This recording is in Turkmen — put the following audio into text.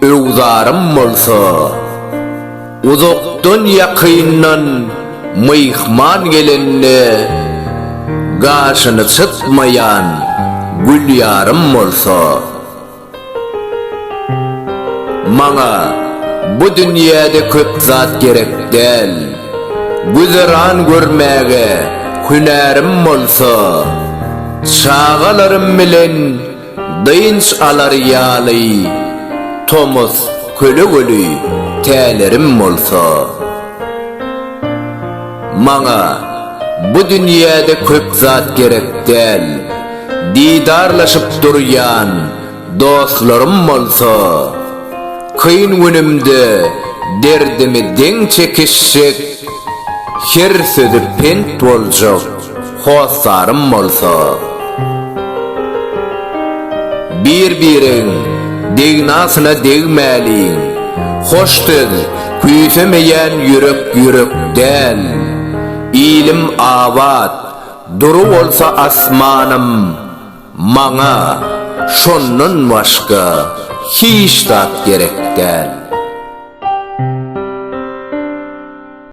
Öwzarym bolsa, uzakdan-ýakyndan myhman gelende gaşyny çytmaýan Gülýarym bolsa, Maňa bu dünýäde köp zat gerek däl, güzeran görmäge hünärim bolsa, çagalarym bilen Dynç alar ýaly tomus kölegeli tälerim bolsa, maňa bu dünýäde köp zat gerek däl, didarlaşyp durýan dostlarym bolsa, kyn günümde derdimi deň çekişjek, her sözi pent boljak. Hossarym bolsa, Bir-biregiň degnasyna degmäliň, Hoş söz küýsemeýän ýürek ýürek däl. Ilim abat, dury bolsa asmanym, Maňa şondan başga hiç zat gerek däl.